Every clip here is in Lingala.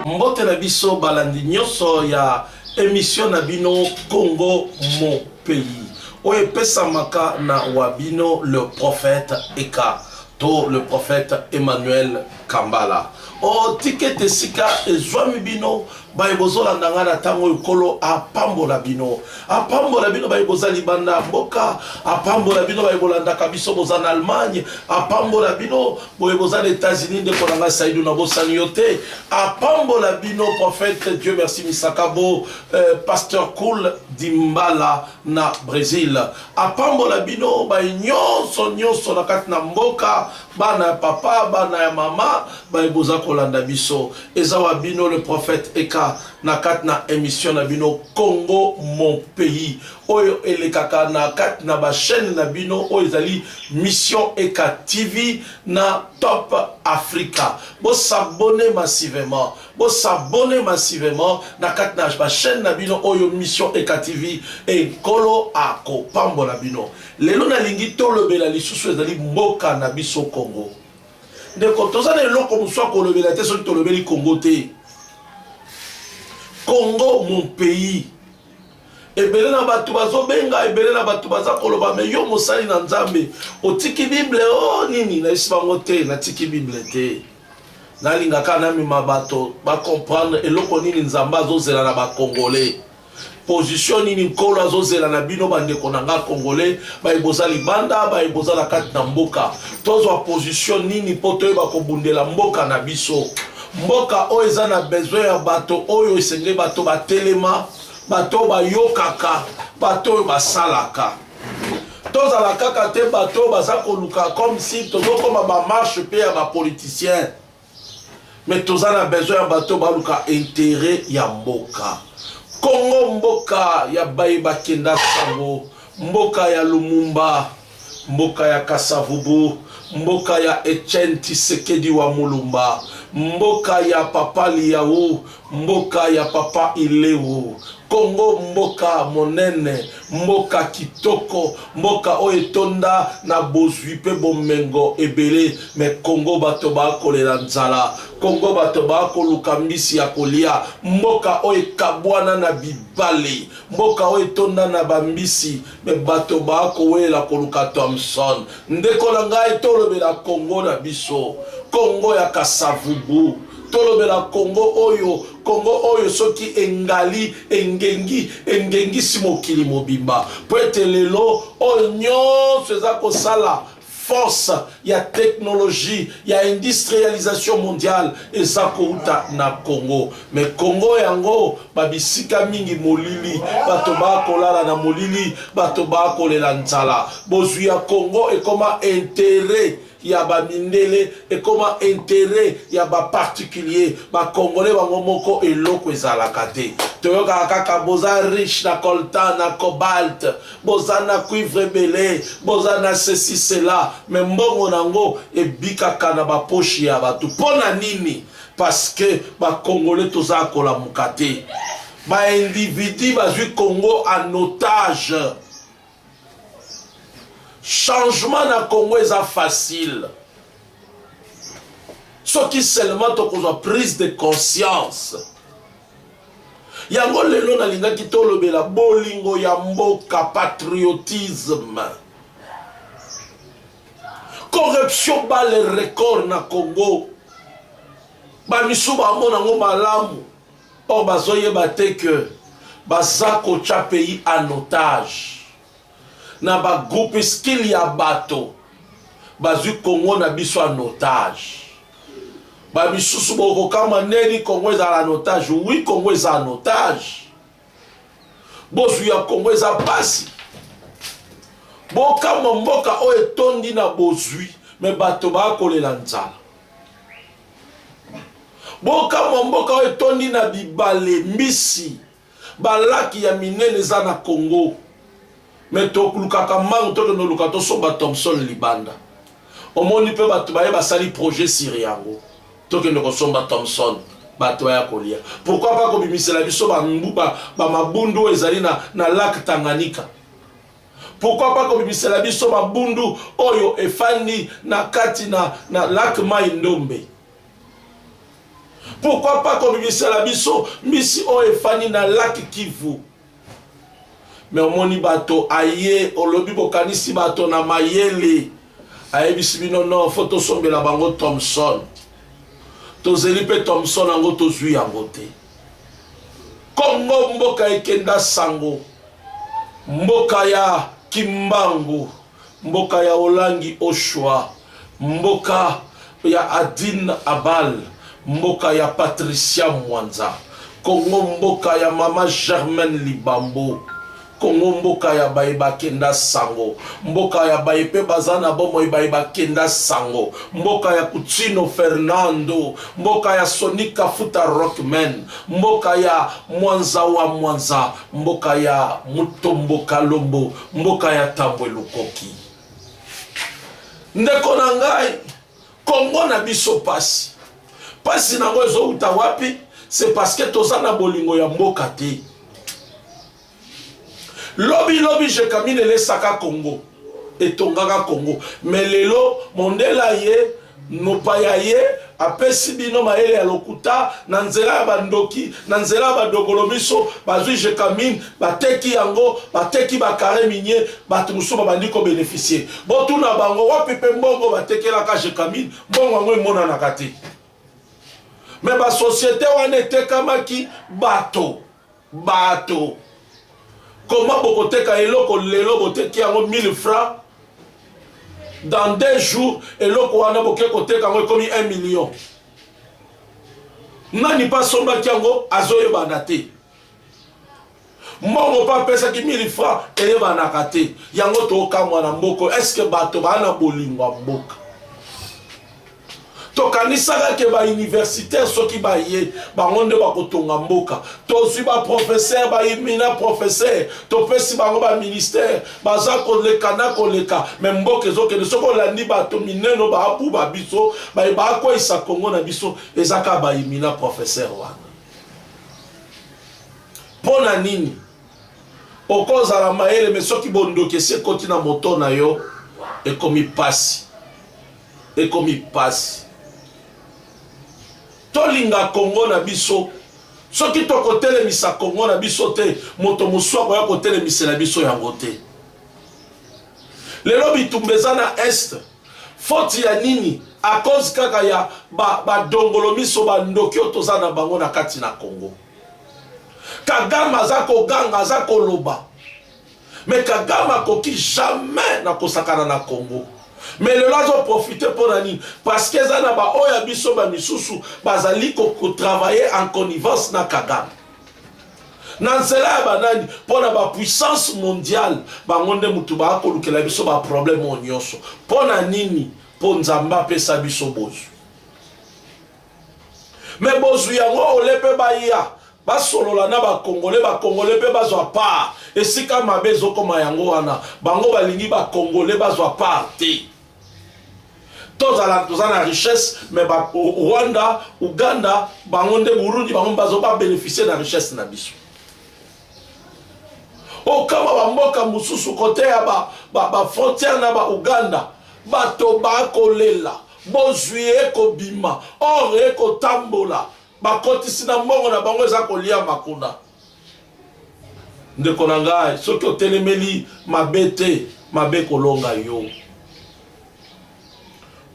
mbote na biso balandi nyonso ya emission na bino congo mon pays oyo epesamaka na wa bino le prophète eka to le prophète emmanuel Kambala. Oh, ticket esika ezwami bino baye bozolanda ngai na ntango oyo nkolo apambola bino apambola bino baye boza libanda ya mboka apambola bino baye bolandaka biso boza na allemagne apambola bino boye boza na états-unis ndeko na ngai saidu na bosani yo te apambola bino prophète dieu merci misakabo euh, pasteur cool dimbala na Bresil apambola bino baye nyonso nyonso na kati na mboka bana ya papa bana ya mama baye boza kolanda biso eza wa bino le prophète eka na kati na emission na bino Congo mon pays oyo elekaka na kati na ba chaîne na bino oyo ezali mission eka TV na top Africa bo s'abonner massivement Bo s'abonner massivement na kati na ba chaîne na bino oyo Mission Eka TV et Nkolo akopambola bino. Lelo nalingi tolobela lisusu ezali mboka na biso Congo. Ndeko toza na eloko mosusu ya kolobela te soki tolobeli Congo te. Congo mon pays. ebele na bato bazobenga ebele na bato baza koloba me yo mosali na nzambe otiki bible o oh, nini nayesi bango te natiki bible te Nalinga kaka namema bato ba comprendre eloko nini Nzambe azozela na ba Congolais. Position nini Nkolo azozela na bino bandeko na nga Congolais, baye boza libanda, baye boza na kati na mboka. Tozwa position nini mpo toyeba kobundela mboka na biso. Mboka oyo eza na besoin ya bato oyo esengeli bato batelema, bato oyo bayokaka, bato oyo basalaka. tozala kaka te bato oyo baza koluka comme si tozokoma bamarche mpe ya bapoliticien mais toza na besoin ya bato baluka interet ya mboka kongo mboka ya baye bakenda sango mboka ya lumumba mboka ya kasavubu mboka ya etienne tisekedi wa mulumba mboka ya papa liau Mboka ya papa ileo. Congo mboka monene, mboka kitoko, mboka oyo etonda na bozwi pe bomengo ebele me Congo bato ba kolela nzala, Congo bato ba koluka mbisi ya kolia, mboka oyo ekabwana na bibale, mboka oyo etonda na ba mbisi me bato ba kowelela koluka Thomson. Ndeko na ngai tolobela Congo na biso, Congo ya Kasa-Vubu. Tolobela Congo oyo, Congo oyo soki engali, engengi, engengisi mokili mobimba. Mpo ete lelo oyo nyonso eza kosala force ya technologie ya industrialisation mondiale eza kouta na Congo. Me Congo yango babisika mingi molili, bato bakolala na molili, bato bakolela nzala. Bozwi ya Congo ekoma interet ya ba mindele ekoma interet ya ba particulier ba congolais bango moko eloko ezalaka te toyokaka kaka boza riche na coltan na cobalt boza na cuivre ebele boza na ceci cela me mbongo na yango ebikaka na baposhi ya bato mpo na nini parce que bacongolais toza kolamuka te baindividu bazwi congo en otage changement na congo eza facile soki seulement tokozwa prise de conscience yango lelo nalingaki tolobela bolingo ya mboka patriotisme corruption bale record na congo bamisu bamona yango malamu Or bazo yeba te que baza kotia pays en otage na ba groupuscule ya bato bazwi Congo na biso en otage. Ba misusu bokokamwa ndeni Congo ezala en otage. Oui, Congo eza en otage. Bozwi ya Congo eza pasi. Bokamwa mboka oyo etondi na bozwi me bato bakolela nzala. Bokamwa mboka oyo etondi na bibale, mbisi, balaki ya minene eza na Congo. Me tolukaka mango tokende oluka tosomba Thomson libanda. Omoni mpe bato baye basali projet sur yango. Tokende kosomba Thomson bato baya kolia. Pourquoi pas kobimisela biso ba mabundu oyo ezali na, na lac Tanganyika. Pourquoi pas kobimisela biso mabundu oyo efandi na kati na, na lac mai ndombe pourquoi pas kobimisela biso mbisi oyo efandi na lac kivu me omoni bato aye olobi bokanisi bato na mayele ayebisi bino no fo tosombela bango thomson tozeli mpe thomson yango tozwi yango te Kongo mboka ekenda sango, mboka ya kimbangu, mboka ya olangi oshwa, mboka ya adine abal, mboka ya patricia mwanza, kongo mboka ya mama germaine libambo, Congo mboka ya baye bakenda sango mboka ya baye mpe baza na bomoi baye bakenda sango mboka ya Kutino Fernando mboka ya Sonic Kafuta Rockman mboka ya Mwanza wa Mwanza mboka ya Mutombo Kalombo mboka ya Tambwe Lukoki ndeko na ngai Kongo na biso pasi pasi nango ezowuta wapi c'est parce que toza na bolingo ya mboka te Lobi lobi Jekamine lesaka Congo etongaka Congo mais lelo mondela ye mopaya ye apesi bino mayele ya lokuta na nzela ya bandoki na nzela ya badokolo miso bazwi jekamine bateki yango bateki bakare minie bato mosusu babandi kobenefisie botuna bango wapi mpe mbongo batekelaka jekamine mbongo yango emonanaka te me basosiete wana etekamaki bato Bato comment bokoteka eloko lelo boteki yango 1000 francs dans deux jours eloko wana boke koteka yango ekomi 1 million nani mpe asombaki yango azoyebana te mbongo mpe apesaki 1000 franc eyebanaka te yango tokamwa na mboko eske bato baa na bolingo ya mboka tokanisaka ke bauniversitaire soki baye bango nde bakotonga mboka tozwi baprofesere baimina profesere topesi bango baministere baza koleka na koleka me mboka ezokende soki olandi bato mineno baabuba biso baye baakweisa kongo na biso eza kaka baimina profesere wana mpo na nini okozala mayele me soki bondoki esi ekoti na moto na yo ekomi mpasi Ekomi pasi. Tolinga Congo na biso. Soki tokotelemisa Congo na biso te, moto mosusu akoya kotelemisela biso yango te. Lelo bitumba eza na Est. Foti ya nini? A cause kaka ya badongolo ba miso bandoki oyo toza na bango na kati na Congo. Kagame aza koganga, aza koloba. Mais Kagame akoki jamais na kosakana na Congo. Mais lelo azo profiter mpo na nini? Parce que eza na ba oyo ya biso ba misusu bazali ko, ko travailler en connivence na Kagame na nzela ya banani mpo na bapuissance mondiale bango nde motu baakolukela biso baproblème oyo nyonso mpo na nini mpo nzambe apesa biso bozwi me bozwi yango ole mpe baya basolola na bakongole bakongole mpe bazwa part esika mabe ezokoma yango wana bango balingi bakongole bazwa part te tozala toza na richesse me rwanda uganda bango nde burundi bango bazo babeneficie na richesse na biso okama bamboka mosusu kote ya bafrontiere ba, ba na bauganda bato bakolela Bozwi eko bima, or eko tambola, ba kotisi na mbongo na bango eza ko liama kuna. Ndeko na ngai soki otelemeli mabe te, mabe eko longa yo.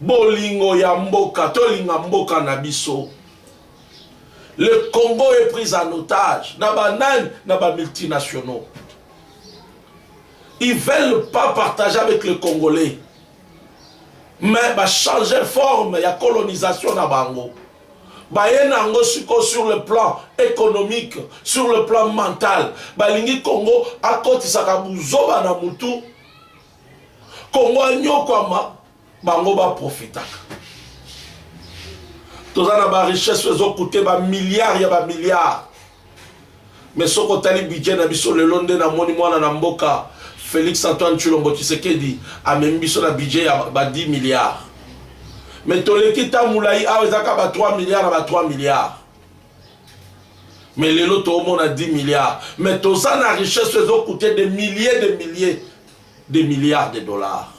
Bolingo ya mboka, to linga mboka na biso. Le Congo est pris en otage na ba nani, na ba multinationaux. Ils veulent pas partager avec les Congolais. mais ba changer forme ya colonisation na bango baye na yango sikoyo sur le plan économique sur le plan mental balingi congo akotisaka buzoba na mutu congo anyokwama bango baprofitaka toza na barichesse ezokute bamilliard ya bamilliard Mais soki otali budget na biso lelo nde na moni mwana na mboka Felix Antoine Tshilombo Tshisekedi amemi biso na budget ya ba 10 milliards. Mais toleki temps mulayi awa eza kaka ba 3 milliards na ba 3 milliards. Mais lelo toomona 10 milliards. Mais toza na richesse ezo coûter des milliers de milliers de milliards de dollars.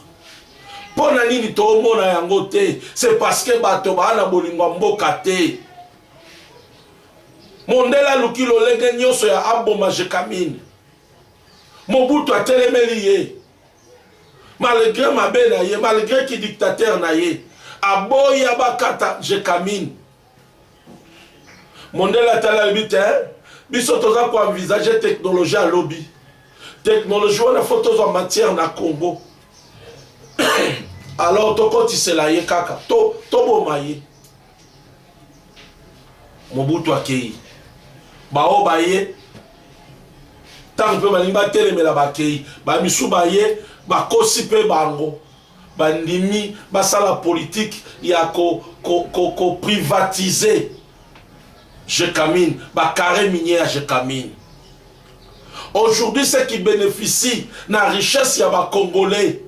Mpo na nini toomona yango te? C'est parce que bato baa na bolingo ya mboka te. Mondele aluki lolenge nyonso ya aboma Jekamine. Mobutu atelemeli ye malgre mabe na ye malgre ki dictateur na ye aboya bakata Jekamine. Mondele atali alobi te biso toza ko envisage technologie ya lobi technologie wana fo tozwa matière na Congo alors tokotisela ye kaka toboma to ye Mobutu akei, baoyo baye ntango mpe balingi batelemela bakei, bamisu baye bakosi mpe bango bandimi basala politike ya koprivatize ko, ko, ko Gécamine, ba carré minier ya Gécamine. Aujourd'hui, ceux qui bénéficient de la richesse ya ba Congolais,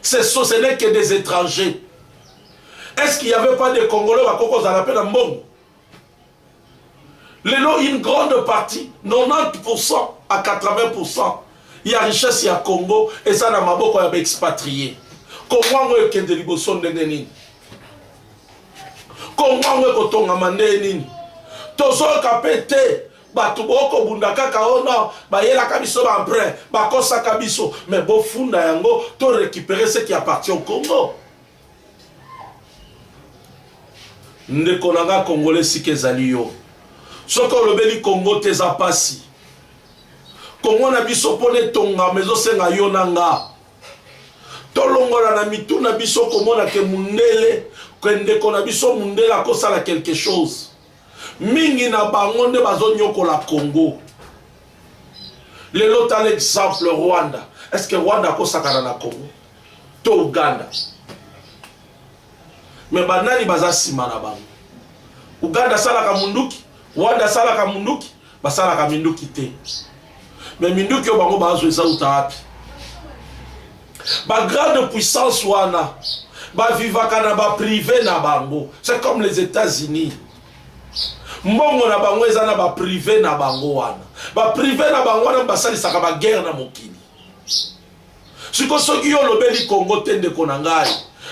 ce, ce n'est que des étrangers. est-ce qu'il y avait pas des congolais bakoki kozala mpe na mbongo lelo une grande partie 90 à 80 ya richesse ya congo eza na maboko ya baexpatrie kongo yango ekende liboso ndenge nini kongo yango ekotongama ndenge nini tozoyoka mpe te bato bokobunda kaka o oh no bayelaka biso baemprin bakosaka biso me bofunda yango to récupere ce qui appartient au congo ndeko na nga congolais esika ezali yo soki olobeli congo te eza mpasi kongo na biso mpo na etongama ezosenga yo na nga tolongola na mitu na biso komona ke mundele ke ndeko na biso mundele akosala quelque chose mingi na bango nde bazonyokola congo lelo tala exemple rwanda est ce que rwanda akosakana na congo to Uganda me banani baza nsima na bango Uganda asalaka munduki Rwanda asalaka munduki basalaka minduki te me minduki oyo bango bazo eza uta wapi ba grande puissance wana bavivaka na baprive na bango c'est comme les états-unis mbongo na bango eza na baprive na bango wana baprive na bango wana basalisaka baguerre na mokili Siko soki yo olobeli Congo te ndeko na ngai,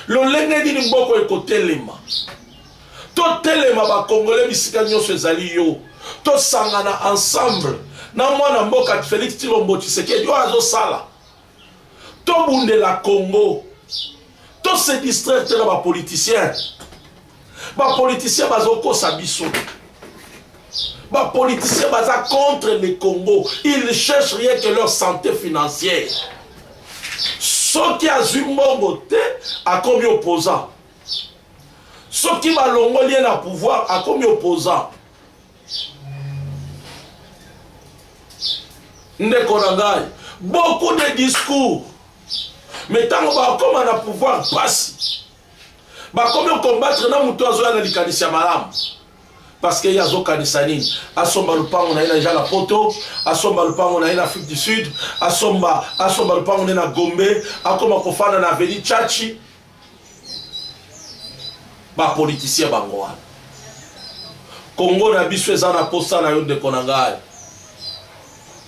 lolenge nini mboko ekotelema? Totelema bakongole bisika nyonso ezali yo, tosangana ensemble na mwana mboka Felix Tshilombo Tshisekedi oyo azosala, tobundela Congo, tose distraire te na bapoliticien. Ba politiciens bazokosa biso. Ba politiciens baza contre le Congo. Ils ne cherchent rien que leur santé financière. soki azwi mbongo te akomi opposant soki balongoli ye na pouvoir akomi opposant ndeko na ngai beaucoup de discours me ntango bakoma na pouvoir mpasi bakomi okombatre na moto azoya na likanisi ya malamu parce que ye azokanisa nini asomba lupango na ye na deja na poto asomba lupango na ye na afrique du sud asomba asomba lupango na ye na gombe akoma kofanda na aveni chachi bapolitisien bango wana kongo na biso eza na posa na yo ndeko na ngai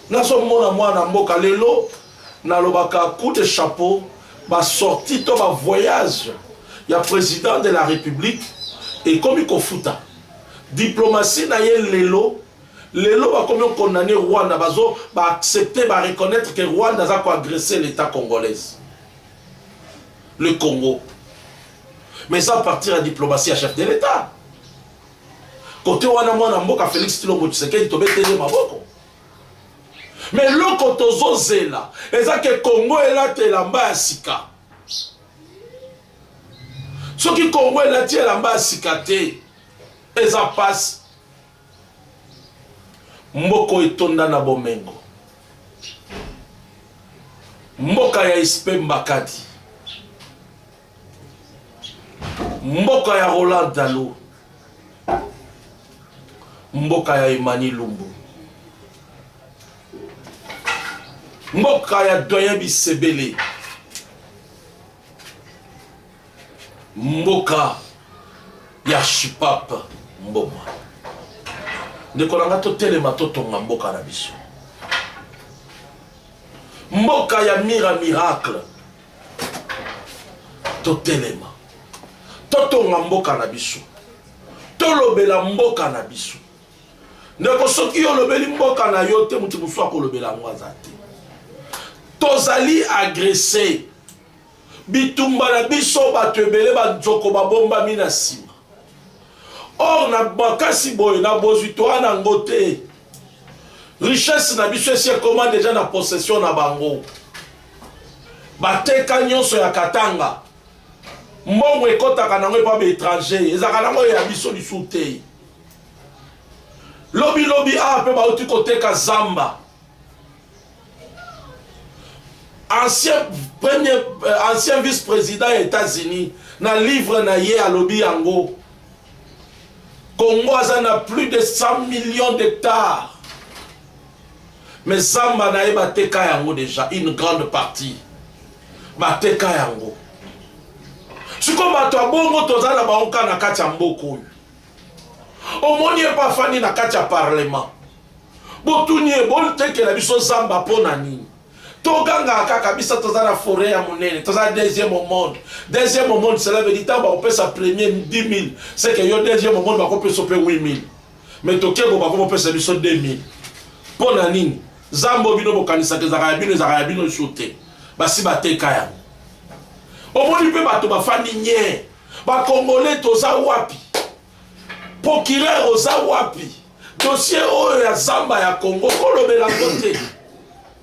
nazomona mwana mboka lelo Nalobaka coup de chapeau ba sorties to ba voyages ya President de la Republique ekomi kofuta diplomatie na ye lelo lelo bakomi ko condamner Rwanda bazo ba accepter ba reconnaitre que Rwanda aza ko agresser l'Etat congolaise le Congo mais eza à partir ya diplomatie ya chef de l'Etat kote wana mwana mboka Felix Tshilombo Tshisekedi tobeteli ye maboko Mais loko tozo zela eza ke Congo elata elamba ya sika. Soki Congo elati elamba ya sika te eza pasi. Mboko etonda na bomengo. Mboka ya Ispe Mbakadi. mboka ya roland dalo mboka ya emani lumbu mboka ya doyen bisebele mboka ya shipap mboma ndeko na ngai totelema totonga mboka na biso mboka ya mira miracle totelema totonga mboka na biso tolobela mboka na biso ndeko soki yo olobeli mboka na yo te moto mosusu akolobela yango aza te tozali agrese bitumba na biso bato ebele banzoko babombami na nsima or na makasi boye na bozwi toa na yango te richesse na biso esi ekoma deja na possession na bango bateka nyonso ya katanga mbongo ekɔtaka nango epa baétranger ezalaka nango oyo ya biso lisusu te lobilobi awa mpe bauti koteka zamba ancien premier euh, ancien vice président ya états-unis na livre na ye alobi yango congo aza na plus de 100 millions d'hectares Mais zamba naye bateka yango deja une grande partie bateka yango siko bato ya bongo toza na bango kaka na kati ya mboka oyo omoni ye mpe afandi na kati ya parlement botuni ye botekela biso zamba mpo na nini togangaka kaka biso toza na foret ya monene toza na deuxième au monde deuxième au monde cela veut dire ntango bakopesa premier 10 000 seke yo deuxième au monde bakopesa mpe 8 000 me tokebo bako bopesa biso 2000 mpo na nini zambo bino bokanisaka ezaka ya bino ezaka ya bino su te basi bateka yango omoni mpe bato bafandi nye bakongole toza wapi procureur oza wapi dossier oyo ya zamba ya congo kolobela ngo te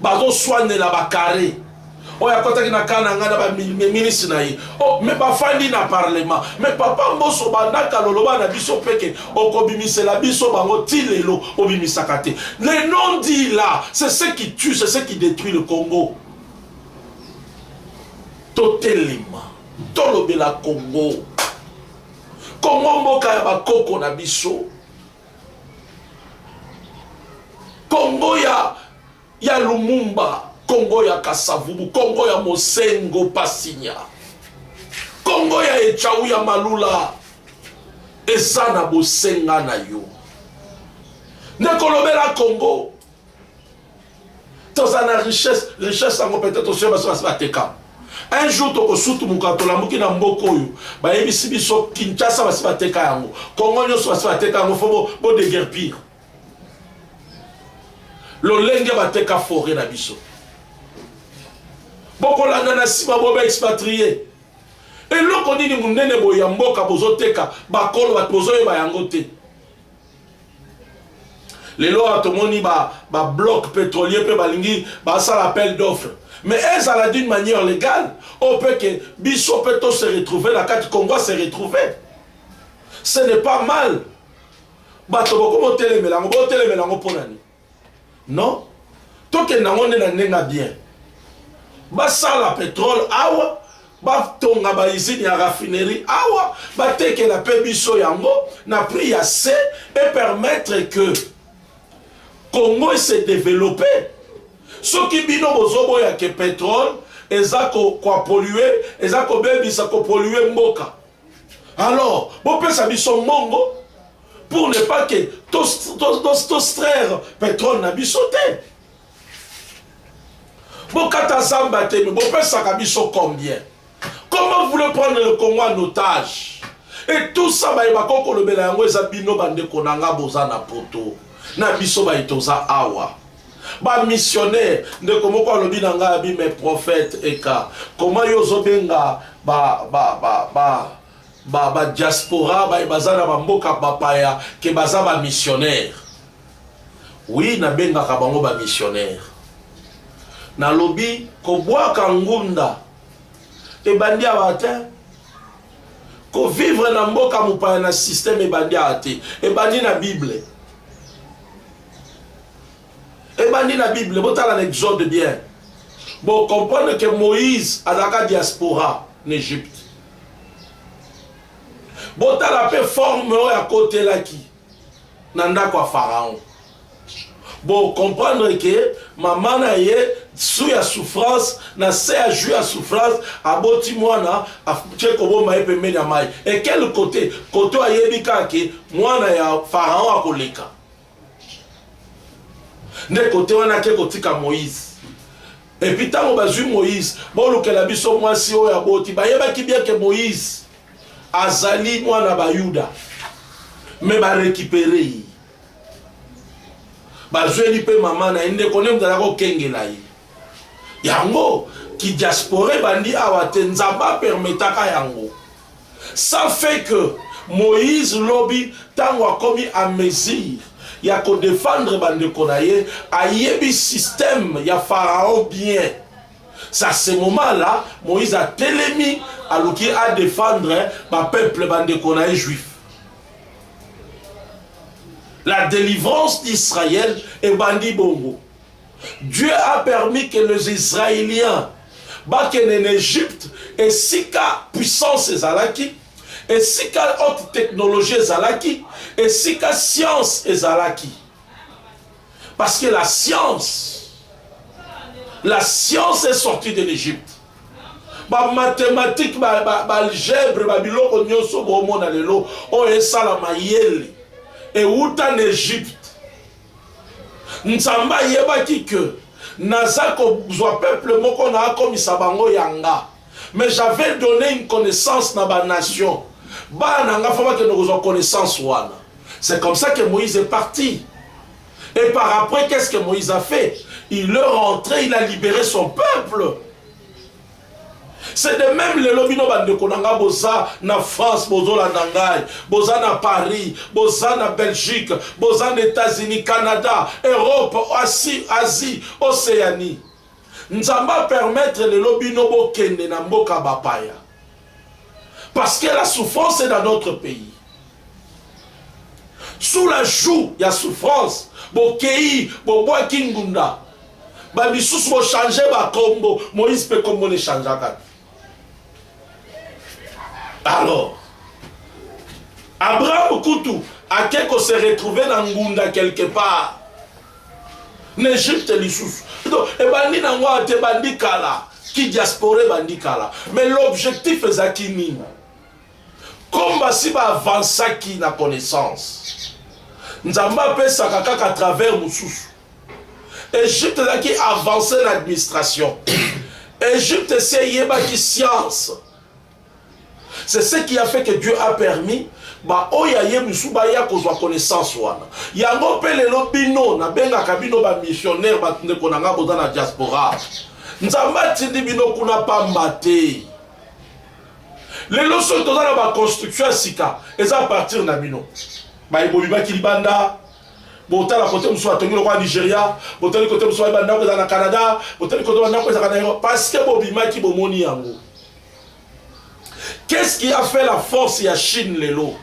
bazoswanela ba carre oyo akotaki na kaa na ngai na baminisi na ye oh, me bafandi na parlement me papa mboso bandaka loloba na biso peke okobimisela biso bango ti lelo obimisaka te le non dit là c'est ce qui tue c'est ce qui détruit le congo totelema tolobela congo congo mboka ya bakoko na biso Congo ya ya Lumumba, Congo ya Kasavubu, Congo ya Mosengo Pasinya, Congo ya Echau ya Malula eza na bosenga na yo. Nakolobela Congo toza na richesse richesse yango peut-être osoya baso basi bateka un jour tokosutumuka tolamuki na mboka oyo bayebisi biso kinshasa basi bateka yango kongo nyonso basi bateka yango fo bodegerpire lolenge bateka foret na biso bokolanda na nsima boba expatrie eloko nini monene boye ya mboka bozoteka bakolo bato bozoyeba yango te lelo awa tomoni babloc pétrolier mpe balingi basala appel d'offre mais ezala d'une manière légale oyo mpe ke biso mpe to se retrouve na kati congo a se retrouve ce n'est pas mal bato bokomi otelemela yango botelemela yango mpo na nini non tokende yango nde na ndenge ya bien basala petrole awa batonga baizini ya raffinerie awa batekela mpe biso yango na prix ya se epermettre que congo ese developpe soki bino bozoboya ke petrole eza koapolue eza kobebisa kopolue mboka alors bopesa biso mbongo pour ne pas que tostraire petrole na biso te bokata zamba te me bopesaka biso combien comment voulez prendre le congo en otage et tout ça baye bakoki kolobela yango eza bino bandeko na nga boza na poto na biso baye toza awa ba missionnaire ndeko moko alobi na ngai abi mais prophète eka koma yo ozobenga ba, ba, ba, ba, ba, ba diaspora baye baza na bamboka bapaya ke baza ba missionnaire wi nabengaka bango ba missionnaire nalobi kobwaka ngunda ebandi awa te kovivre na mboka mopaya na systeme ebandi awa te ebandi na bible ebandi na bible botala na exode bien bocomprendre ke moïse azalaka diaspora na egypte botala mpe forme oyo akotelaki na ndako ya pharaon bocomprendre ke mama na ye su ya souffrance na se ya jus ya souffrance aboti mwana atie kobomba ye pembeni ya mai e quel kote kote ayebi kaka ke mwana ya pharaon akoleka nde kote wana ake kotika moïse epuis ntango bazwi moïse bolukela biso mwasi oyo aboti bayebaki bien ke moïse azali mwana bayuda me barekipere ye bazweli mpe mama na ye ndeko nde moto azalaki kokengela ye yango kidiaspora ebandi awa te nzambe apermetaka yango Ça fait que Moïse lobi tango akomi à mesure ya ko defendre bandeko na ye ayebi système ya pharaon bien ça ce moment là Moïse atelemi aluki a defendre ba peuple bandeko na ye juif la délivrance d'Israël ebandi bongo Dieu a permis que les Israéliens bakende na Egypte esika puissance ezalaki, esika haute technologie ezalaki, esika science ezalaki. Parce que la science, la science est sortie de l'Égypte. ba mathématique ba, ba, ba algèbre ba biloko nyonso bomona lelo oyo esalama yeli ewuta na egypte Nzambe ayebaki que naza kozwa peuple moko na akomisa bango yanga. Mais j'avais donné une connaissance na ba nations. Bana na nga faut bakende kozwa connaissance wana. C'est comme ça que Moïse est parti. Et par après, qu'est-ce que Moïse a fait Il est rentré, il a libéré son peuple. c'est de même lelo bino bandeko na ngai boza na france bozolanda ngai boza na paris boza na belgique boza na états-unis canada europe asie asie océanie nzambe apermettre lelo bino bokende na mboka bapaya parce que la souffrance est dans notre pays sous la joue ya souffrance bokei bobwaki ngunda bamisusu bochange bakombo moïse mpe kombo lechangeaka te alors abraham kutu ake kose retrouve na ngunda quelque part na egypte lisusu donc ebandi na yango ate ebandi kala ki diaspora ebandi kala mais l'objectif ezalaki nini Comme basi ba avancaki na connaissance, Nzambe apesaka kaka à travers mosusu. Egypte ezalaki avance na administration. Egypte esi eyebaki science. C'est ce qui a fait que Dieu a permis baoyo aye mosusu baya kozwa connaissance wana yango mpe lelo bino nabengaka bino bamissionnaire bato ndeko na ngai boza na diaspora nzambe atindi bino kuna pamba te Lelo soki toza na ba construction ya sika eza a partir na bino. Baye bobibaki libanda botala kote mosusu atongi lokola Nigeria, botali kote mosusu baye bandako ezala na Canada, botali kote bandako ezalaka na Europe parce que bobimaki bomoni yango. Qu'est-ce qui a fait la force ya Chine lelo?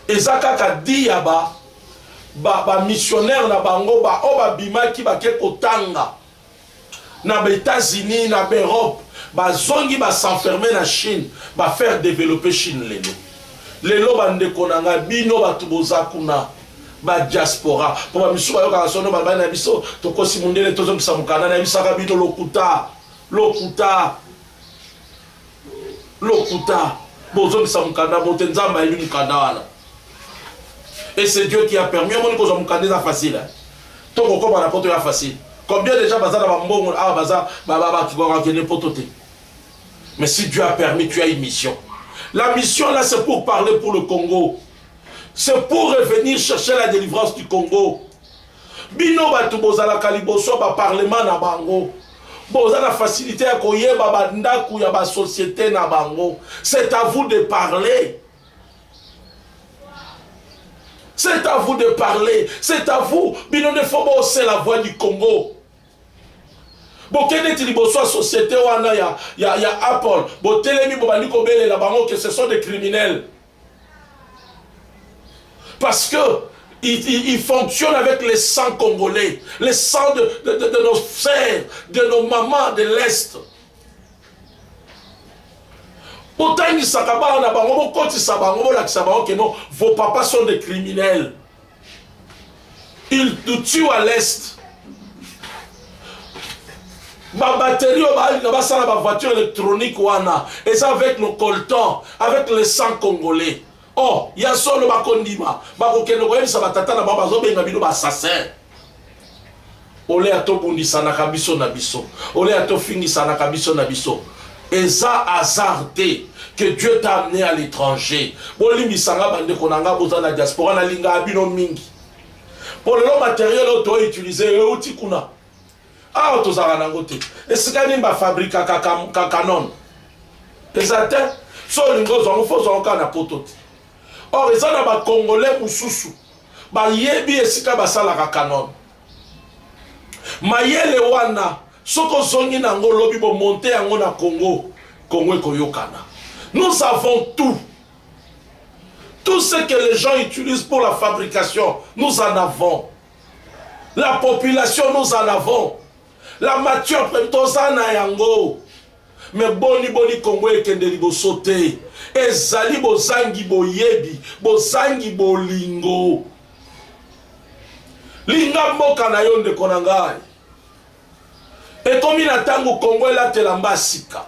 Eza kaka di ya ba ba, ba missionnaire na bango ba oyo babimaki bake kotanga na ba etats unis na b'europe bazongi ba s'enferme na chine ba faire developpe chine lelo lelo bandeko na ngai bino bato boza kuna ba diaspora mpo bamisu bayokaka sono balobani na biso tokosi mondele tozongisa mokanda nayebisaka bino lokuta lokuta Lokuta. Bozongisa mukanda bote nzambe ayebi mukanda wana. Et c'est Dieu qui a permis. Yo moni kozwa mukanda eza facile. To kokoma na poto ya facile. Combien déjà baza na bambongo awa ah, baza bakende poto te. Mais si Dieu a permis, tu as une mission. La mission là, c'est pour parler pour le Congo. C'est pour revenir chercher la délivrance du Congo. Bino batu bozalaka liboso ya ba parlement na bango boza na facilite ya koyeba ba ndaku ya ba societe na bango c'est à vous de parler c'est à vous de parler c'est à vous bino nde fo bosela voix du congo bokende ti liboso ya société wana ya, ya, ya apple botelemi bobandi kobelela bango que ce sont des criminels Parce que il, il, il, fonctionne avec les sangs congolais, les sangs de, de, de, de nos sœurs, de nos mamans de l'Est. botangisaka bana na bango bokotisaka bango bolakisa bango keno vos papas sont des criminels il nous tue à l'est babateri oyo balinga basala bavoiture électronique wana eza avec nos coltan avec le sang congolais o oh, ya solo bakondima bakokende koyebisa batata na bango bazobenga bino baassassin ole ya tobundisanaka biso na biso ole ya tofingisanaka biso na biso eza hasard te que dieu t'a amené à l'étranger bolimbisa nga bandeko na nga boza na diaspora nalingaka bino mingi mpo lelo materiel oyo toutilize euti kuna awa tozalaka nango te esika nini bafabrikaka kanon eza te so olingi ozwango fo ozwango kaka na poto te or eza na bacongolais mosusu bayebi esika basalaka canon mayele wana soki ozongi na yango lobi bomonte yango na congo congo ekoyokana nous avons tout tout ce que les gens utilisent pour la fabrication nous en avons la population nous en avons la matière toza na yango Mais boni boni Congo ekende liboso te ezali bozangi boyebi bozangi bolingo linga mboka na yo ndeko na ngai ekomi na ntango Congo elatela mba sika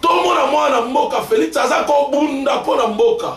tomona mwana mboka Felix aza kobunda mpo na mboka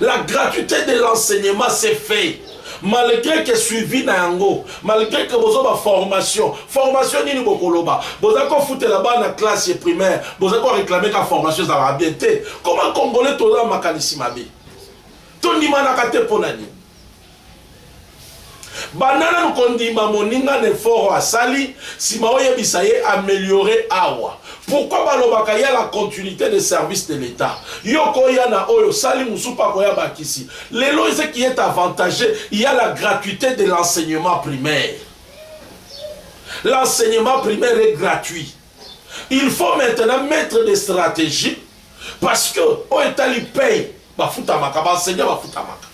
La gratuite de l'enseignement se fait malgre que suivi na yango malgre que bozo ba formation formation nini bokoloba boza kofutela bana classe ye primaire boza ko réclame ka formation ezalaka bien te koma congolais toza makanisi mabe tondimanaka te mpo na nini banda nanu kondima moninga na eforo asali nsima oyebisa ye ameliore awa pourquoi balobaka ya la continuité de service de l'état yo koya na oyo osali mosusu mpe akoya bakisi lelo ese qui est avantage ya la gratuité de l'enseignement primaire l'enseignement primaire est gratuit il faut maintenant mettre des stratégies parce que oyo etali paye bafutamaka baenseignant bafutamaka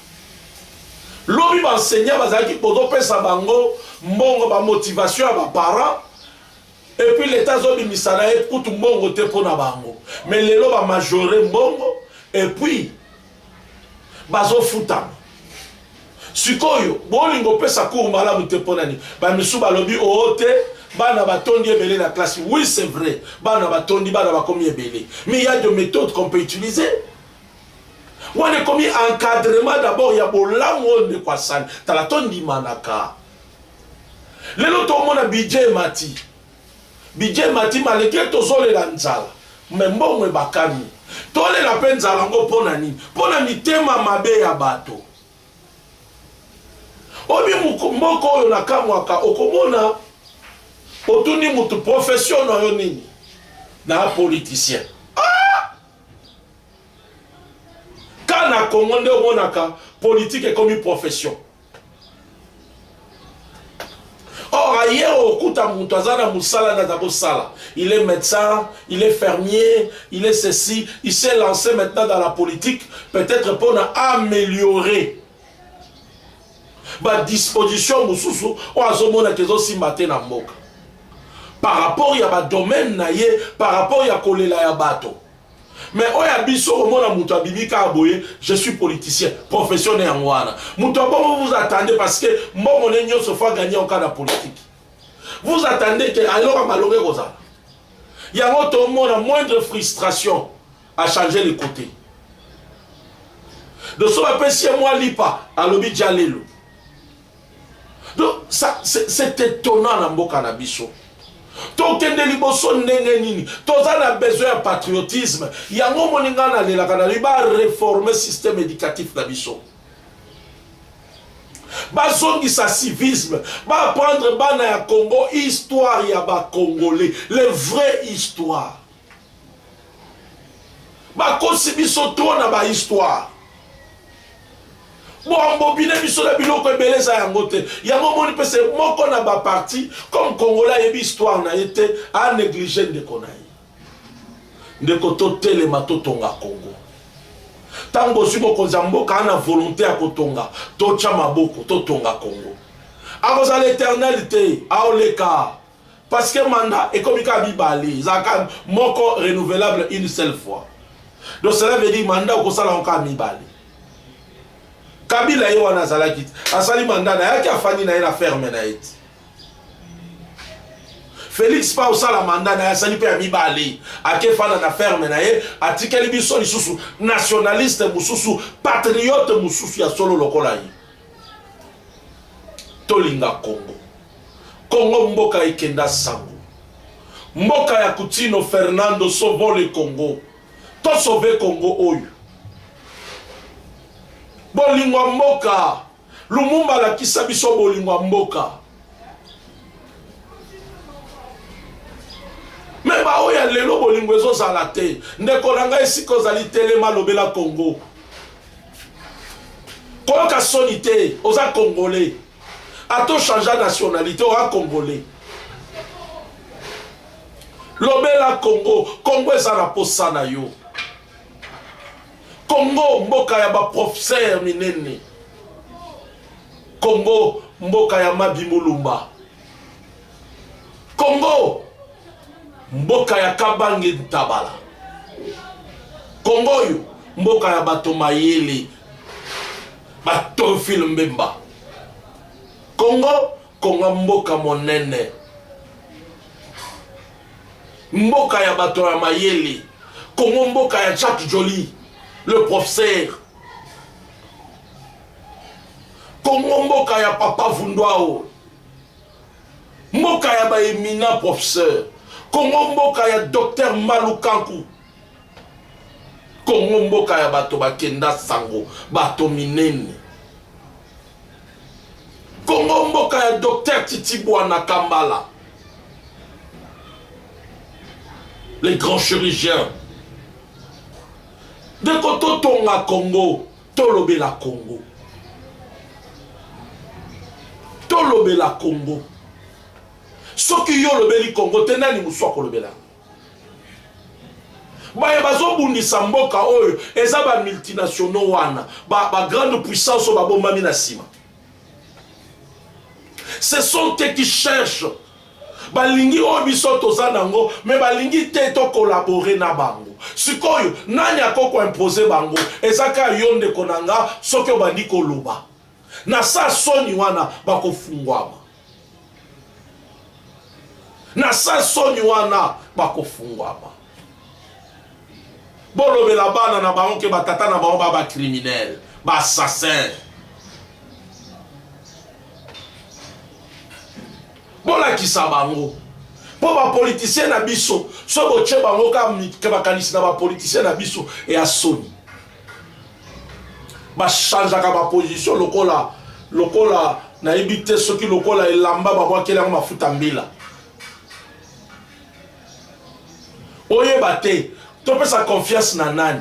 lobi baenseignant bazalaki bozopesa bango mbongo bamotivation ya baparent epuis leta azobimisa na ye kutu mbongo te mpo na bango mais lelo bamajore mbongo epuis bazofutama sikoyo bolingo opesa cour malamu te mpo na nini bamisu balobi oo oh, te bana batondi ebele na classe oui c'est vrai bana batondi bana bakomi ebele mais il y a de méthodes qu'on peut utiliser wana ekomi encadrement d'abord ya bolamu oyo ndeko asali tala tondimanaka lelo tomona budget emati Budget emati malgre tozolela nzala mais mbongo ebakami. Tolela pe nzala yango po na nini? Po na mitema mabe ya bato. Oyebi mboka oyo nakamwaka, okomona otuni moto profession na yo nini? Na politicien. Congo nde omonaka politike ekomi profession or aye okuta moto aza na mosala naza kosala il est médecin il est fermier il est ceci il s'est lancé maintenant dans la politique peut-être mpona améliorer badisposition mosusu oyo azomonaka ezosimba te na mboka par rapport ya badomaine na ye par rapport ya kolela ya bato Mais oyo ya biso omona mutu abimi kaka boye je suis politicien profession ne yango wana mutu abongo vous attendez parce que mbongo ne nyonso faut gagner oka na politique vous attendez que ayoka malonga ekozala yango tomona moindre frustration a changer le côté de so bapesi ye mwa lipa alobi jalelo Donc ça c'est étonnant na mboka na biso. tokende liboso ndenge nini toza na besoin ya patriotisme yango omoni ngai nalelaka nalobi bareforme système éducatif na biso bazongisa civisme baapprendre bana ya congo histoire ya bacongolais le vrai histoire bakosi biso trop na ba histoire boambobine biso na biloko ebele eza yango te yango omoni mpe se moko na baparti comme kongola ayebi histoire na ye te anéglige ndeko na ye ndeko totelema totonga kongo ntango bozwi bokonzi ya mboka ana volonté ya kotonga totya maboko totonga kongo akozala eternel te aoleka parce que mandat ekomi kaka mibale ezalaka moko renouvelable une seule fois donc cela veut dire mandat okosala yango kaka mibale kabila ye wana azalaki te asali mandat na yaki afandi na ye na ferme na ye te felix pa osala mandat na ye asali mpe ya mibale akefanda na ferme na ye atikeli biso lisusu nationaliste mosusu patriote mosusu ya solo lokola ye tolinga congo congo mboka ekenda sango mboka ya kutino fernando sovole congo tosove congo oyo bolingo ya mboka lumumba alakisa biso bolingo ya mboka me baoyo ya lelo bolingo ezozala te ndeko na ngai esika ozali telema lobela kongo koyoka soni te oza congolais ato changea nationalité oa congolais lobela congo congo eza na posa na yo congo mboka ya baprofesere minene Congo mboka ya Mabi Mulumba. Congo mboka ya Kabange Ntabala. Congo oyo mboka ya bato mayele batorfile Mbemba. Congo konga mboka monene mboka ya bato ya mayele kongo mboka ya jacques joli le professeur Congo mboka ya papa vunduao mboka ya ba eminent professeur Congo mboka ya docteur Malukanku Congo mboka ya bato bakenda sango bato minene Congo mboka ya docteur Titibwana Kambala les grands chirurgiens ndeko totonga Congo Tolobela Congo. Tolobela Congo. Soki yo olobeli Congo te nani mosusu akolobela yango? baye bazobundisa mboka oyo eza ba multinationaux wana ba, ba grande puissance oyo babombami na nsima ce sont te qui cherche balingi oyo biso toza nango me balingi te to collabore na bango sikoyo nani ako koimpose bango eza kaka yo ndeko na nga soki obandi koloba na sa soni wana bakofungwama na sa soni wana bakofungwama bolobela bana na bango ke batata na bango ba bacriminel baassassin Bolakisa bango mpo bapolitisien na biso so botie bango kaka makanisi na bapolitisien na biso ya soni bachangeaka baposition lokola lokola nayebi te soki lokola elamba babwakeli yango mafuta mbila oyeba te topesa confiance na nani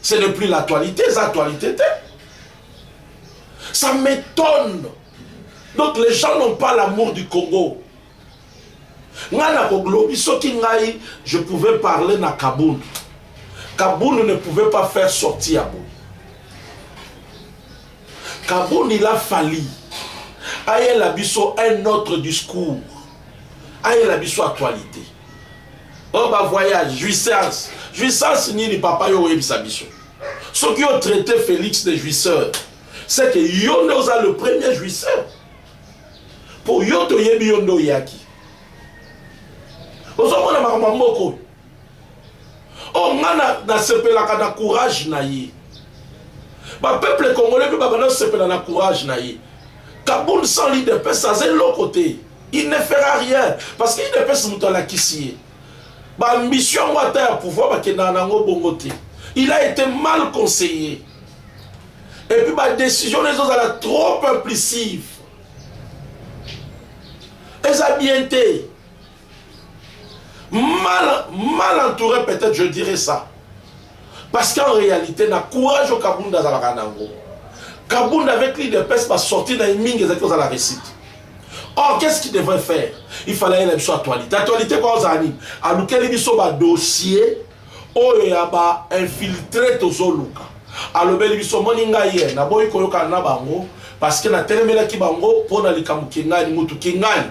ce n'est plus l'actualité eza actualité te ça m'étonne donc les gens n'ont pas l'amour du congo ngai nakolobi soki ngai je pouvais parler na kabund kabund ne pouvait pas faire sorti ya boye kabund il a fali ayela biso un autre discours ayela biso actualité oyo oh, bavoyage jouissance jouissance nini papa yo oyebisa biso soki yo traite félix de jouisseur c'est que yo nde oza le premier jouisseur mpo yo toyebi yo nde oyaki ozomona makambo ya mboka oyo oh nga na nasepelaka na courage na ye ba peuple congolais mpe babanda kosepela na courage na ye kabund sans l'idps aza eloko te il ne fera rien parce que idps moto alakisi ye baambition yango ata ya pouvoir bakendaka na yango bongo te il a été mal conseillé et puis badécision na ezozala trop implicive eza bien te mal, mal entouré peut-être je dirais ça parce qu'en réalité na courage oyo kabunda azalaka na yango kabunda avec l'idps basorti na ye mingi ezalaki kozala récite or qu'est ce qu'il devrait faire il fallait ayela biso actualité actualité kwa ozala nini alukeli biso badossier oyo ya bainfiltré tozoluka alobeli biso omoni ngai ye naboyi koyokana na bango parce que natelemelaki bango mpo na likambo kingani motu kingani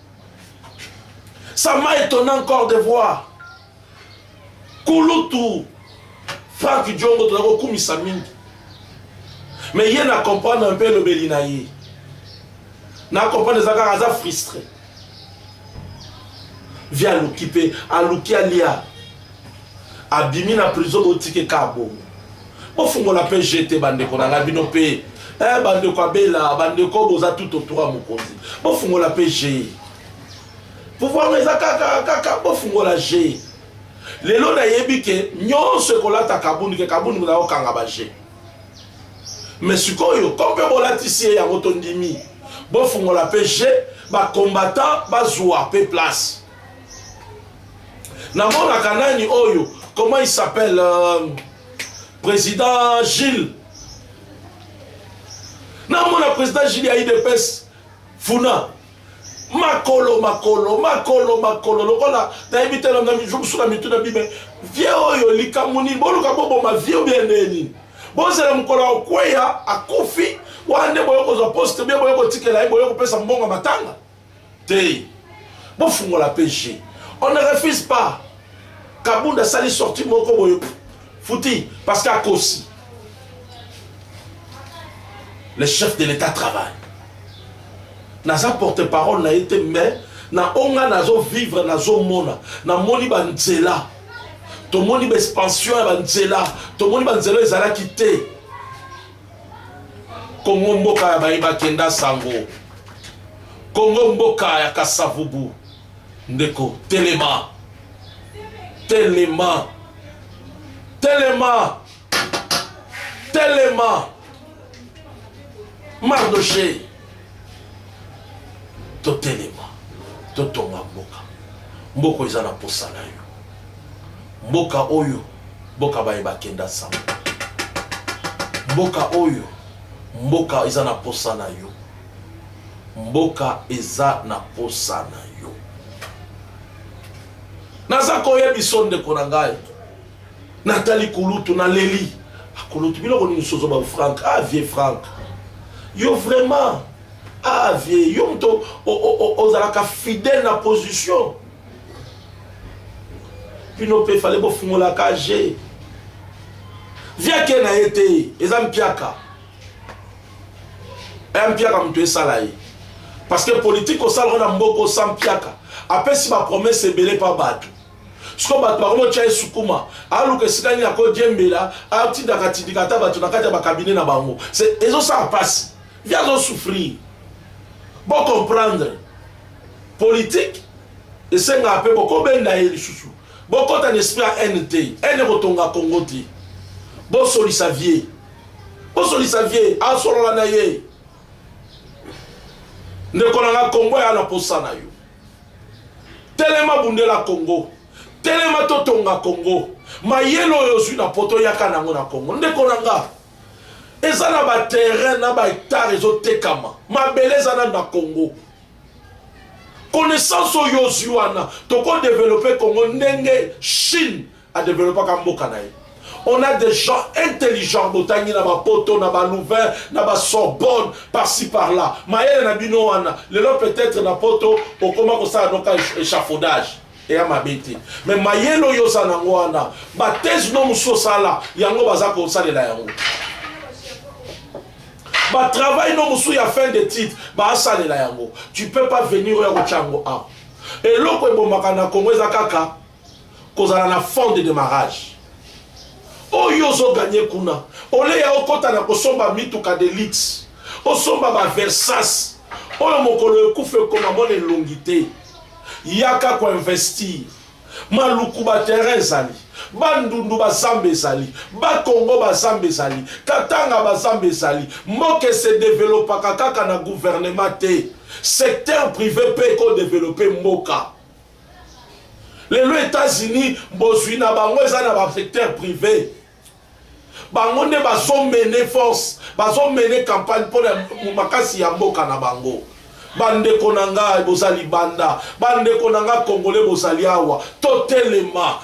Ça m'a étonné encore de voir kulutu Frank Diongo toza kokumisa mingi mais ye na comprendre un peu elobeli na ye na comprendre eza kaka aza frustré vie aluki mpe aluki alia abimi na prison botike ka bongo bofungola mpe je te bandeko na ngai bino mpe eh, bandeko abela bandeko boza tout autour ya mokonzi bofungola mpe je pouvoir eza kaka kaka bofungola je lelo nayebi ke nyonso ekolata kabuni ke kabuni muna okanga baje me sikoyo ko mpe bolatisi ye yango tondimi bofungola mpe je bacombattant bazwa mpe place namonaka nani oyo comment il s'appelle euh, président gilles namona président gilles ya idps funa makolo makolo makolo makolo lokola nayebi te mosusu na mitu na bime vie oyo likambo nini boluka boboma vie oyo bia ndeye nini bozela mokolo ya kokweya akufi wana nde boye kozwa poste bie boye kotikela ye boye kopesa mbongo matanga te bofungola pe je on ne refuse pas kabunda asali sorti moko boye futi parce que akosi le chef de l'état travaille naza porte parole na ye te mais na oyo ngai nazovivre nazomona namoni banzela tomoni baexpansion ya banzela tomoni banzela ezalaki te Congo mboka ya baye bakenda sango Congo mboka ya kasavubu ndeko telema telema telema telema Mardochée Totelema, totonga mboka. Mboka eza na posa na yo. Mboka oyo, mboka baye bakenda sama. Mboka oyo, mboka eza na posa na yo. Mboka eza na posa na yo. naza koyebiso ndeko na ngai Natali kulutu na leli. Ah, kulutu biloko nini sozo ba Frank. Ah vieux Frank. Yo vraiment. Ah vieux, yo moto ozalaka fidèle na position. Bino pe fallait bofungola ka je. Vieux ke na ye te, eza mpiaka. Eh mpiaka moto esala ye. Parce que politique osalaka na mboko sans mpiaka. Apesi ba promesse ebele pa bato. siko bato bakomotya ye sukuma aluka esika nini akodiembela atindaka tindika ata bato na kati ya bakabine na bango ezosala mpasi vi azosouffrir bocomprendre politike esengaka mpe bokobenda ye lisusu bokota na esprit ya haine te haine ekotonga kongo te bosolisa vie bosolisa vie asolola na ye ndeko na nga kongo ya na posa na yo telema bundela congo telema totonga congo mayele oyo ozwi na poto yaka nango na congo ndeko na nga eza na baterrain na bahectare ezotekama mabele eza nano na congo connaissance oyo ozwi wana tokodevelope congo ndenge chine a developpaka mboka na ye on a des gens intelligents botangi na bapoto na balouvain na basorbonne parci par là mayele na bino wana lelo peut-être na poto okoma kosala noka échafaudage eya mabe te mais mayele oyo oza nango wana bathèse no mosusu osala yango baza kosalela yango batravail no mosusu ya fin de titre baasalela yango tu peux pas venir oya kotya yango awa eloko ebomaka na kongo eza kaka kozala na fond de demarrage oyo ozo ganye kuna ole ya okota na kosomba mituka de luxe osomba ba versas oyo mokolo ekufa ekoma mona elongi te yaka koinvestir maluku baterrain ezali bandundu bazamba ezali bakongo bazamba ezali katanga bazamba ezali mboka esedevelopaka kaka na guvernema te secteur prive mpe ekodevelope mboka lelo Etats-Unis bozwi na bango eza na ba secteur privé bango nde bazomene force bazomene campagne mpo na makasi ya mboka na bango bandeko na ngai boza libanda bandeko na ngai kongole bozali awa totelema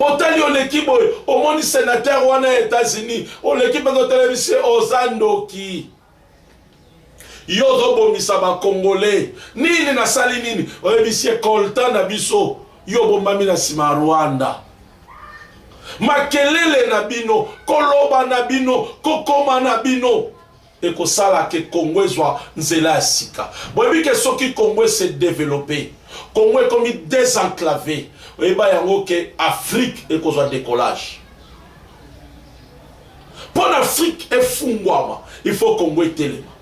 otali oleki boye omoni senateur wana ya etats-unis oleki mpenza otelemisi oza ndoki yo ozobomisa bakongolais nini nasali nini oyebisi ye kolta na biso yo obombami na nsima ya rwanda makelele na bino koloba na bino kokoma na bino ekosala ke Congo ezwa nzela ya sika. Boyebi ke soki Congo e se developper, Congo ekomi desenclaver, oyeba yango ke Afrique ekozwa decollage. Mpo na Afrique efungwama, il faut Congo etelema.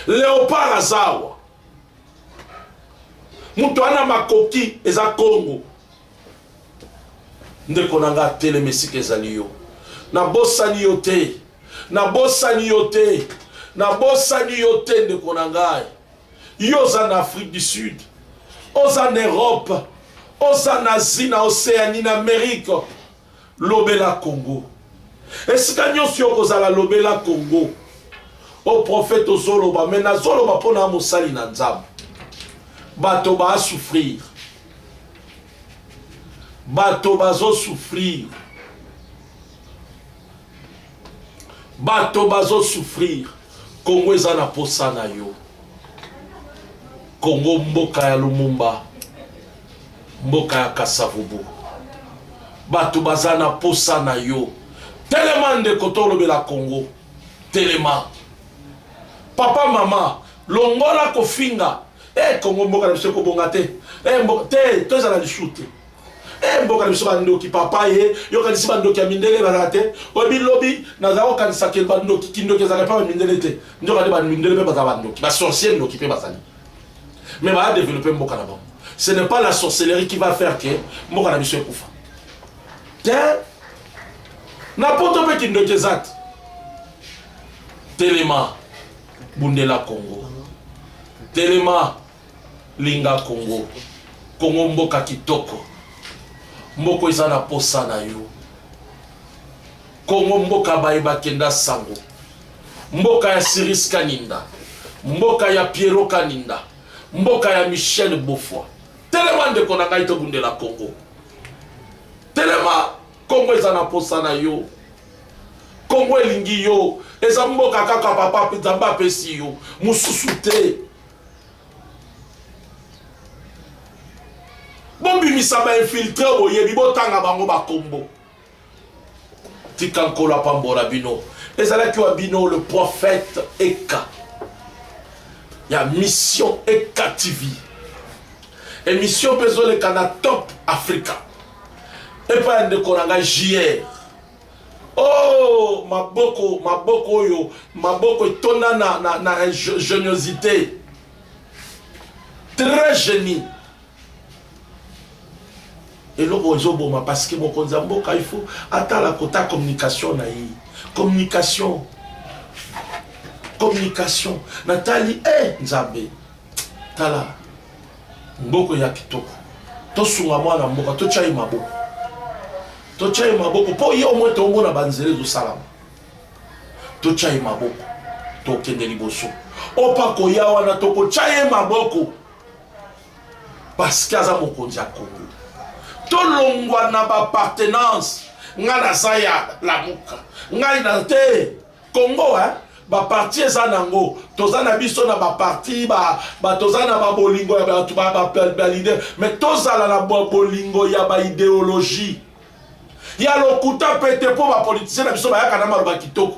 Leopard aza awa, moto ana makoki eza Congo. ndeko na nga teleme sika ezali yo nabosani yo te nabosani yo te nabosani yo te ndeko na ngai yo oza na afrique du sud oza na europe oza na asie na océanie na amérique Lobela Congo. Esika nyonso yo kozala lobela Congo. O prophète ozoloba mais nazoloba mpo na mosali na Nzambe. Bato ba souffrir. Bato bazo souffrir. Bato bazo souffrir. Congo eza na posa na yo. Congo mboka ya Lumumba. Mboka ya Kasa-Vubu batu baza na posa na yo. Telema ndeko tolobela Congo. Telema. Papa mama longola kofinga. Eh Congo mboka na biso ekobonga te. Eh mboka te tozala lisusu te. Eh mboka na biso bandoki papa ye yokanisi bandoki ya mindele ezalaka te oyo bilobi nazala kokanisa ke bandoki kindoki ezalaka mpe bamindele te nzoka nde bamindele mpe bazala bandoki basorcier ndoki mpe bazali mais ba développer mboka na bango ce n'est pas la sorcellerie qui va faire que mboka na biso ekufa te na poto mpe kindoki eza te telema bundela congo telema linga congo congo mboka kitoko mboko eza na posa na yo Congo mboka baye bakenda sango mboka ya Siris Kaninda mboka ya Pierrot Kaninda mboka ya Michel Bofwa telema ndeko na ngai tobundela Congo telema Congo eza na posa na yo Congo elingi yo eza mboka kaka papa Nzambe apesi yo mosusu te bobimisa bainfiltre boyebi botanga bango bakombo tika nkolo apambola bino ezalaki wa bino le prophète eka ya mission eka tv émission mpe ezoleka na top africa epai ya ndeko na ngai jr oh maboko maboko oyo maboko etonda na, na, na ingeniosité très génie eloko ezoboma parce que mokonzi ya mboka il faut atala kota communication na ye communication communication natali e eh, nzambe tala mboko ya kitoko tosunga mwana mboka totya ye maboko totya ye maboko mpo ye omoi tomona banzela ezosalama totya ye maboko tokende liboso opa koya wana tokotya ye maboko parce que aza mokonzi ya congo tolongwa na bapartenance ngai naza ya lamuka ngai na te congo eh? baparti eza nango toza na biso na baparti ba, ba, toza na babolingo ya bato balide me tozala na bolingo ya baideologie ya lokuta mpe te mpo bapolitisien na biso bayaka na maloba kitoko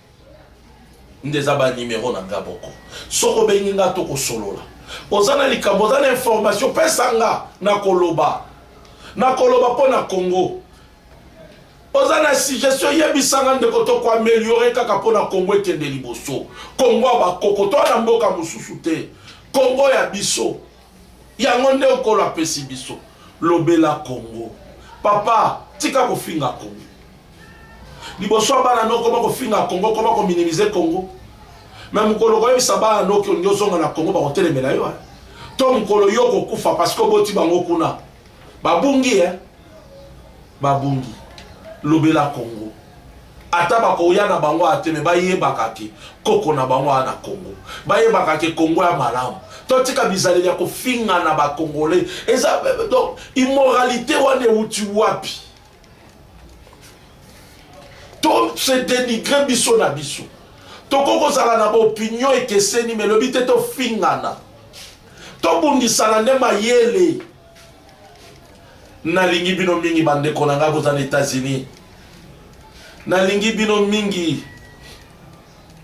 nde eza ba numero na nga boko soki obengi nga to kosolola oza na likambo oza na information pesa nga na koloba na koloba mpo na congo oza na suggestion yebisa nga ndeko to koameliore kaka mpo na congo ekende liboso congo ya bakoko to na mboka mosusu te congo ya biso yango nde okolo apesi biso lobela congo papa tika kofinga congo liboso ya bana noko koma kofinga congo koma kominimize congo me mokolo koyebisa bana noki olingi ozonga na congo bakotelemela yo to mokolo yo okokufa parceke oboti bango kuna babungi e babungi lobela congo ata bakoya na bango aya te me bayebaka ke koko na bango aya na congo bayebaka ke congo ya malamu totika bizaleli ya kofinga na bakongole eza donc immoralité wana euti wapi to se denigre biso na biso tokoki kozala na baopinio ekeseni melobi te tofingana tobundisana nde mayele nalingi bino mingi bandeko na ngai boza na états-unis nalingi bino mingi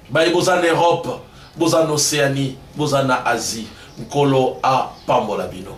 baye boza na europe boza na océanie boza na asie nkolo apambola bino